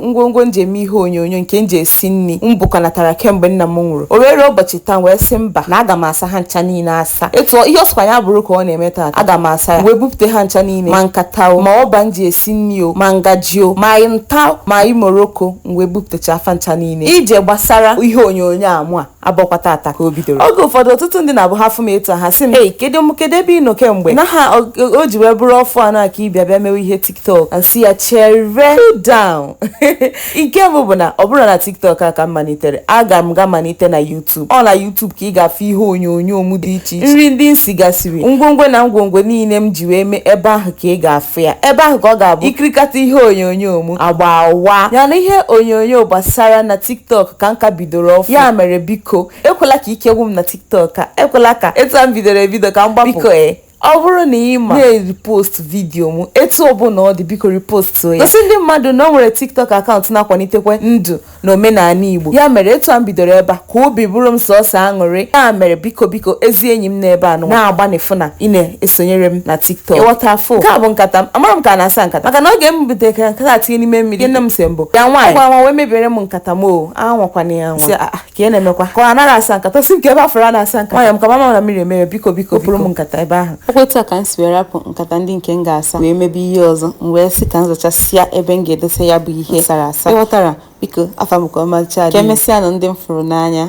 ngwongwo m ji eme ihe onyonyo nke m ji esi nri m bukọnatara kemgbe nna m nwụrụ o wee rue ụbọchị taa wee sị mba na aga m asa ha ncha niile asa etu ihe ọ sọkwa ya bụrụ ka ọ na-eme taa aga m asa ya wee bupụta ha ncha niile ma nkata o ma ọba m ji esi nri o ma ngaji o ma nta ma imoroko m wee bupụtachaa fa ncha niile ije gbasara ihe onyonyo mụ a abọkwa tata ka o bidoro oge ụfọdụ ọtụtụ ndị na-abụ ha fụ m etu a ha sị m ei kedu m kedu ebe ị nọ kemgbe na ha o o ji wee bụrụ ọfụ anọ a ka ị bịa bịa mewe ihe tiktok m sị ya chere godu nke mbụ bụ na ọ bụrọ na tiktok a ka m malitere aga m ga malite na youtube ọ na youtube ka ị ga-afụ ihe onyonyo m dị iche iche nri ndị m sigasịrị ngwongwo na ngwongwo niile m ji wee mee ebe ahụ ka ị ga-afụ ya ebe ahụ ka ọ ga-abụ ị kirikata ihe onyonyo m agba awa yana ihe onyonyo gbasara na tiktok ka m ka bi bidoro ọfụ ya mere biko ekwela ka ike gwụ m na tiktok a ekwela ka etu a m bidoro ebido ka m gbapụ biko e ọ bụrụ na ị ma na-repost vidiyo m etu ọbụla ọ dị biko repost ya gosi ndị mmadụ na o nwere tiktok akaụntụ na-akwalitekwe ndụ na omenala igbo ya mere etu a m bidoro ebe a ka obi bụrụ m sọsọ aṅụrị ya mere biko biko ezi enyi m n'ebe ị nọ na-agbanị fụ na ị na-esonyere m na tiktok ị ghọta afọ nke a bụ nkata m amara m ka a na-asa nkata maka na oge m butere nkata tinye n'ime mmiri nne m sị m bịa nwaanyị gwa nwa wee mebiere m nkata m o anwakwana ya anwa ah, ah, ka ị na-emekwa ka ọ anaghị asa nkata sị m kee ebe ị fụrụ a na-asa nkata nwanyị m ka mama na mmiri emere biko biko pụrụ m nkata ebe ahụ ọ kwa etu a ka m si wee rapụ nkata ndị nke m ga-asa wee mebe ihe ọzọ m wee sị ka m zachasịa ebe m ga-edosa ya bụ ihe sara asa ị ghọtara biko afa m ka ọmalịcha dị ka emesịanụ ndị m fụrụ n'anya